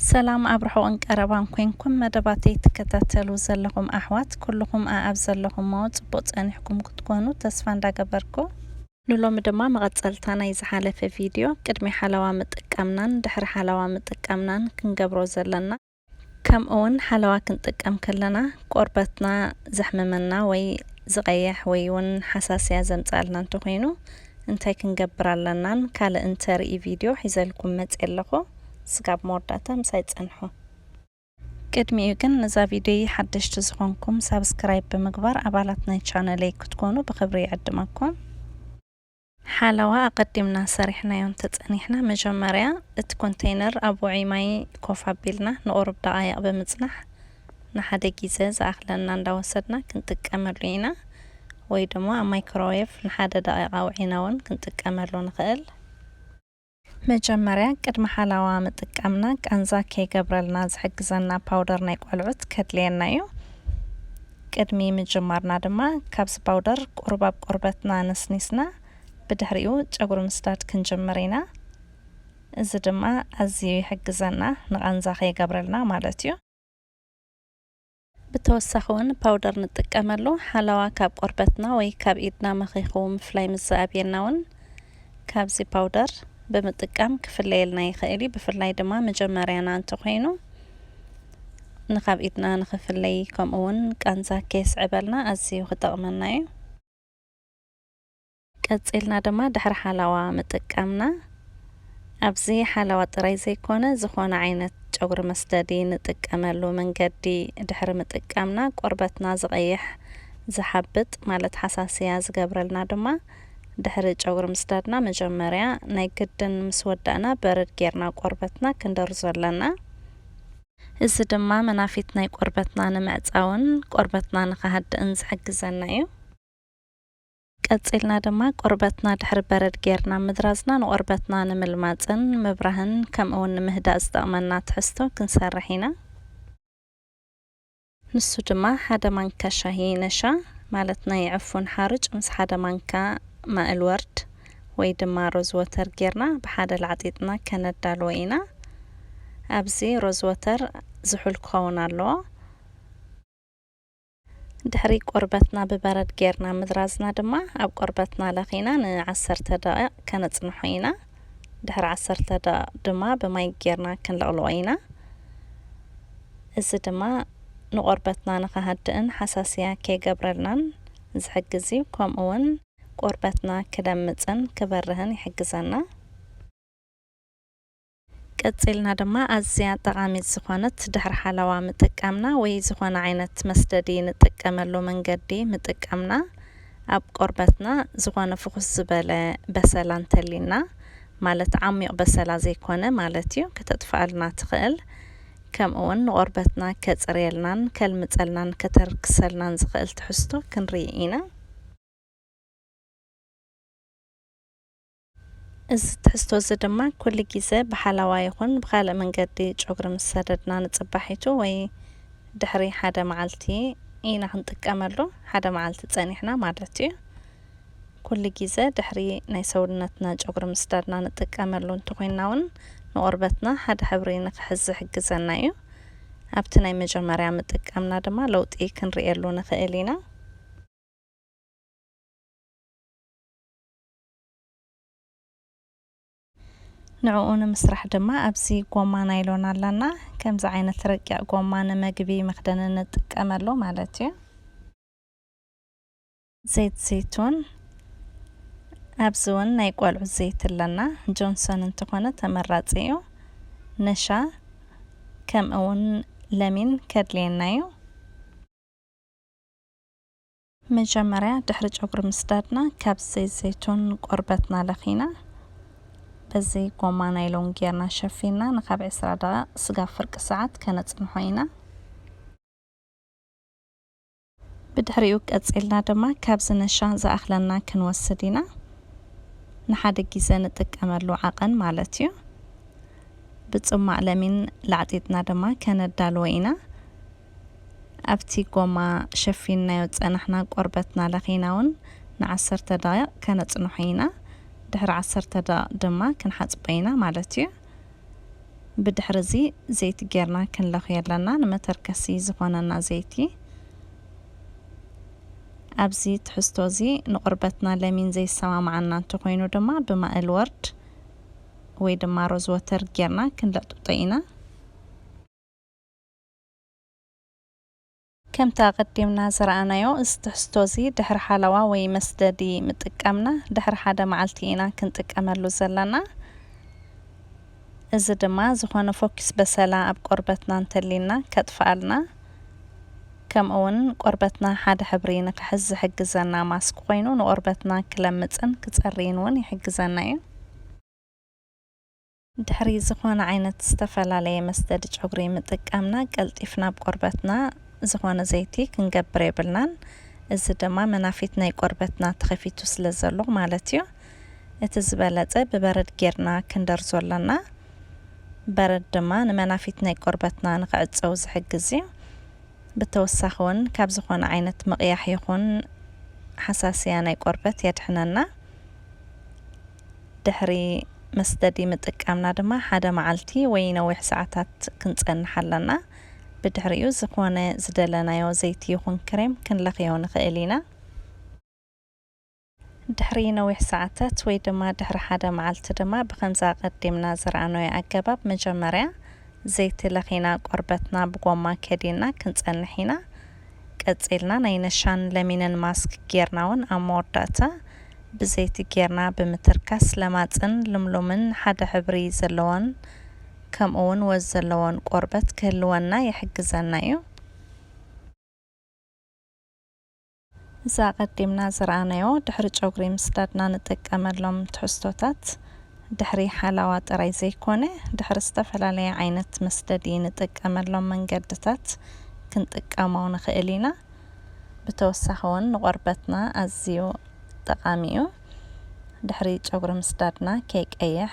ሰላም ኣብ ርሑቕን ቀረባን ኮንኩም መደባተይ ትከታተሉ ዘለኹም ኣሕዋት ኩሉኹም ኣኣብ ዘለኹሞ ጽቡቕ ጸኒሕኩም ክትኮኑ ተስፋ እንዳገበርኩ፣ ንሎሚ ድማ መቐጸልታ ናይ ዝሓለፈ ቪድዮ ቅድሚ ሓለዋ ምጥቃምናን ድሕሪ ሓለዋ ምጥቃምናን ክንገብሮ ዘለና ከምእውን ሓለዋ ክንጥቀም ከለና ቆርበትና ዘሕምመና ወይ ዝቐየሕ ወይ ውን ሓሳስያ ዘምጽኣልና እንተኾይኑ እንታይ ክንገብር ኣለናን ካልእን ተርኢ ቪድዮ ሒዘልኩም መጽየ ኣለኹ። ስጋብ መወዳእታ ምሳይ ጸንሑ። ቅድሚኡ ግን ንዛ ቪድዮይ ሓደሽቲ ዝኾንኩም ሳብስክራይብ ብምግባር ኣባላት ናይ ቻነለይ ክትኮኑ ብኽብሪ ይዕድመኩም። ሓለዋ ኣቐዲምና ሰሪሕናዮ እንተጸኒሕና መጀመርያ እቲ ኮንተይነር ኣብ ውዑይ ማይ ኮፍ ኣቢልና ንቑሩብ ደቓይቕ ብምጽናሕ ንሓደ ጊዘ ዝኣኽለና እንዳወሰድና ክንጥቀመሉ ኢና ወይ ደሞ ኣብ ማይክሮዌቭ ንሓደ ደቒቕ ኣውዒና ውን ክንጥቀመሉ ንኽእል። መጀመርያ ቅድሚ ሓላዋ ምጥቃምና ቃንዛ ከይገብረልና ዝሕግዘና ፓውደር ናይ ቆልዑት ከድልየና እዩ። ቅድሚ ምጅማርና ድማ ካብዚ ፓውደር ቁሩብ ኣብ ቆርበትና ነስኒስና ብድሕሪኡ ጨጉሪ ምስዳድ ክንጅምር ኢና። እዚ ድማ ኣዝዩ ይሕግዘና ንቃንዛ ከይገብረልና ማለት እዩ። ብተወሳኺ እውን ፓውደር ንጥቀመሉ። ሓለዋ ካብ ቆርበትና ወይ ካብ ኢድና መኺኹ ምፍላይ ምስ ዝኣብየና እውን ካብዚ ፓውደር ብምጥቃም ክፍለየልና ይኽእል እዩ። ብፍላይ ድማ መጀመርያና እንተኾይኑ ንካብ ኢድና ንኽፍለይ ከምኡ እውን ቃንዛ ከየስዕበልና ኣዝዩ ክጠቕመና እዩ። ቀጺልና ድማ ድሕሪ ሓላዋ ምጥቃምና ኣብዚ ሓላዋ ጥራይ ዘይኮነ ዝኾነ ዓይነት ጨጉሪ መስደዲ ንጥቀመሉ መንገዲ ድሕሪ ምጥቃምና ቆርበትና ዝቐይሕ፣ ዝሓብጥ፣ ማለት ሓሳስያ ዝገብረልና ድማ ድሕሪ ጨጉሪ ምስዳድና መጀመርያ ናይ ግድን ምስ ወዳእና በረድ ጌርና ቆርበትና ክንደርዞ ኣለና። እዚ ድማ መናፊት ናይ ቆርበትና ንምዕጻውን ቆርበትና ንኽሃድእን ዝሕግዘና እዩ። ቀጺልና ድማ ቆርበትና ድሕሪ በረድ ጌርና ምድራዝና ንቆርበትና ንምልማጽን ንምብራህን ከምእውን ንምህዳእ ዝጠቅመና ትሕዝቶ ክንሰርሕ ኢና። ንሱ ድማ ሓደ ማንካ ሻሂ ነሻ ማለት ናይ ዕፉን ሓሩጭ ምስ ሓደ ማንካ ማእል ወርድ ወይ ድማ ሮዝወተር ጌርና ብሓደ ላዕጢጥና ከነዳልዎ ኢና። ኣብዚ ሮዝወተር ዝሑል ክኸውን ኣለዎ። ድሕሪ ቆርበትና ብበረድ ጌርና ምድራዝና ድማ ኣብ ቆርበትና ለኺና ን ዓሰርተ ደቒቕ ከነጽንሖ ኢና። ድሕሪ ዓሰርተ ደቒቕ ድማ ብማይ ጌርና ክንልቕልቖ ኢና። እዚ ድማ ንቆርበትና ንኽሃድእን ሓሳስያ ከይገብረልናን ዝሕግዝ እዩ። ከምኡ ውን ቆርበትና ክለምጽን ክበርህን ይሕግዘና። ቀጺልና ድማ ኣዝያ ጠቓሚት ዝኾነት ድሕሪ ሓለዋ ምጥቃምና ወይ ዝኾነ ዓይነት መስደዲ ንጥቀመሉ መንገዲ ምጥቃምና ኣብ ቆርበትና ዝኾነ ፍኹስ ዝበለ በሰላ እንተሊና ማለት ዓሚቕ በሰላ ዘይኮነ ማለት እዩ ከተጥፍኣልና ትኽእል ከምእውን ንቆርበትና ከጽርየልናን ከልምጸልናን ከተርክሰልናን ዝኽእል ትሕዝቶ ክንሪኢ ኢና። እዚ ትሕዝቶ እዚ ድማ ኩሉ ግዜ ብሓላዋ ይኹን ብኻልእ መንገዲ ጨጉሪ ምስ ሰደድና ንጽባሒቱ ወይ ድሕሪ ሓደ መዓልቲ ኢና ክንጥቀመሉ፣ ሓደ መዓልቲ ጸኒሕና ማለት እዩ። ኩሉ ግዜ ድሕሪ ናይ ሰውነትና ጨጉሪ ምስዳድና ንጥቀመሉ እንተኾይንና እውን ንቆርበትና ሓደ ሕብሪ ንክሕዝ ዝሕግዘና እዩ። ኣብቲ ናይ መጀመርያ ምጥቃምና ድማ ለውጢ ክንርእየሉ ንኽእል ኢና። ንዕኡ ንምስራሕ ድማ ኣብዚ ጎማ ናይሎን ኣላና። ከምዚ ዓይነት ረቂቕ ጎማ ንመግቢ መኽደኒ ንጥቀመሉ ማለት እዩ። ዘይት ዘይቱን ኣብዚ እውን ናይ ቆልዑ ዘይት ኣለና። ጆንሶን እንተኾነ ተመራጺ እዩ። ነሻ ከምኡ እውን ለሚን ከድልየና እዩ። መጀመርያ ድሕሪ ጨጉሪ ምስዳድና ካብ ዘይት ዘይቱን ንቆርበትና ለኺና በዚ ጎማ ናይሎን ጌርና ሸፊንና ንካብ ዕስራ ደቓቕ ስጋብ ፍርቂ ሰዓት ከነጽንሖ ኢና። ብድሕሪኡ ቀጺልና ድማ ካብዚ ነሻ ዝኣኽለና ክንወስድ ኢና። ንሓደ ጊዘ ንጥቀመሉ ዓቐን ማለት እዩ። ብጽሟቕ ለሚን ላዕጢጥና ድማ ከነዳልዎ ኢና። ኣብቲ ጎማ ሸፊንናዮ ዝጸናሕና ቆርበትና ለኺና ውን ንዓሰርተ ደቒቕ ከነጽንሖ ኢና። ድሕሪ ዓሰርተ ደቒቕ ድማ ክንሓጽቦ ኢና ማለት'ዩ። ብድሕሪ'ዚ ዘይቲ ጌርና ክንለኽዮ ኣለና። ንመተርከሲ ዝኾነና ዘይቲ። ኣብዚ ትሕዝቶ'ዚ ንቆርበትና ለሚን ዘይሰማማዓና እንተኾይኑ ድማ ብማእል ወርድ ወይ ድማ ሮዝወተር ጌርና ክንለጥብጦ ኢና። ከምቲ ኣቐዲምና ዝረኣናዮ፣ እዚ ትሕዝቶ እዚ ድሕሪ ሓለዋ ወይ መስደዲ ምጥቃምና ድሕሪ ሓደ መዓልቲ ኢና ክንጥቀመሉ ዘለና። እዚ ድማ ዝኾነ ፎኪስ በሰላ ኣብ ቆርበትና እንተልዩና ከጥፍኣልና ከምኡ'ውን ቆርበትና ሓደ ሕብሪ ንኽሕዝ ዝሕግዘና ማስክ ኮይኑ ንቆርበትና ክለምጽን ክጸርይን እውን ይሕግዘና እዩ። ድሕሪ ዝኾነ ዓይነት ዝተፈላለየ መስደዲ ጨጉሪ ምጥቃምና ቀልጢፍና ኣብ ቆርበትና ዝኾነ ዘይቲ ክንገብር የብልናን እዚ ድማ መናፊት ናይ ቆርበትና ተኸፊቱ ስለ ዘሎ ማለት እዩ እቲ ዝበለጸ ብበረድ ጌርና ክንደርዞ ኣለና በረድ ድማ ንመናፊት ናይ ቆርበትና ንኽዕጸው ዝሕግዝ እዩ ብተወሳኺ ውን ካብ ዝኾነ ዓይነት ምቕያሕ ይኹን ሓሳስያ ናይ ቆርበት የድሕነና። ድሕሪ መስትዲ ምጥቃምና ድማ ሓደ መዓልቲ ወይ ነዊሕ ሰዓታት ክንጸንሕ ኣለና። ብድሕሪኡ ዝኾነ ዝደለናዮ ዘይቲ ይኹን ክሬም ክንለኽዮ ንኽእል ኢና። ድሕሪ ነዊሕ ሰዓታት ወይ ድማ ድሕሪ ሓደ መዓልቲ ድማ ብኸምዚ ኣቐዲምና ዝረኣናዮ ኣገባብ መጀመርያ ዘይቲ ለኺና ቆርበትና ብጎማ ከዲንና ክንጸንሕ ኢና። ቀጺልና ናይ ነሻን ለሚንን ማስክ ጌርና ውን ኣብ መወዳእታ ብዘይቲ ጌርና ብምትርካስ ለማጽን ልምሉምን ሓደ ሕብሪ ዘለዎን ከምኡ ውን ወዝ ዘለዎን ቆርበት ክህልወና ይሕግዘና ዩ። እዚ ኣቐዲምና ዝረኣናዮ ድሕሪ ጨጉሪ ምስዳድና ንጥቀመሎም ትሕዝቶታት። ድሕሪ ሓላዋ ጥራይ ዘይኮነ ድሕሪ ዝተፈላለየ ዓይነት መስደዲ ንጥቀመሎም መንገድታት ክንጥቀሞ ንኽእል ኢና። ብተወሳኺ እውን ንቆርበትና ኣዝዩ ጠቓሚ እዩ። ድሕሪ ጨጉሪ ምስዳድና ከይቀይሕ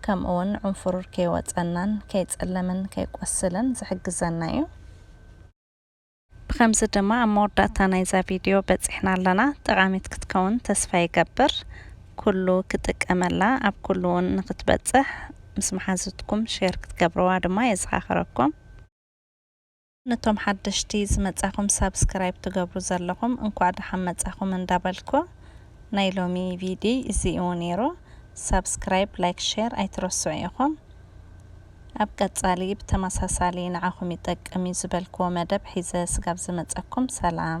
ከምኡ እውን ዑንፍሩር ከይወፀናን ከይፀለመን ከይቆስልን ዝሕግዘና እዩ። ብኸምዚ ድማ ኣብ መወዳእታ ናይዛ ቪድዮ በጺሕና ኣለና። ጠቓሚት ክትከውን ተስፋ ይገብር። ኩሉ ክጥቀመላ ኣብ ኩሉ ውን ንክትበጽሕ ምስ መሓዙትኩም ሼር ክትገብርዋ ድማ የዘኻኽረኩም። ነቶም ሓደሽቲ ዝመጻኹም ሳብስክራይብ ትገብሩ ዘለኹም እንኳዕ ደሓን መጻኹም እንዳበልኩ ናይ ሎሚ ቪድይ እዚ እዩ ነይሩ። ሳብስክራይብ ላይክ ሼር ኣይትረስዑ ኢኹም። ኣብ ቀጻሊ ብተመሳሳሊ ንዓኹም ይጠቅም እዩ ዝበልክዎ መደብ ሒዘ ስጋብ ዝመጸኩም ሰላም።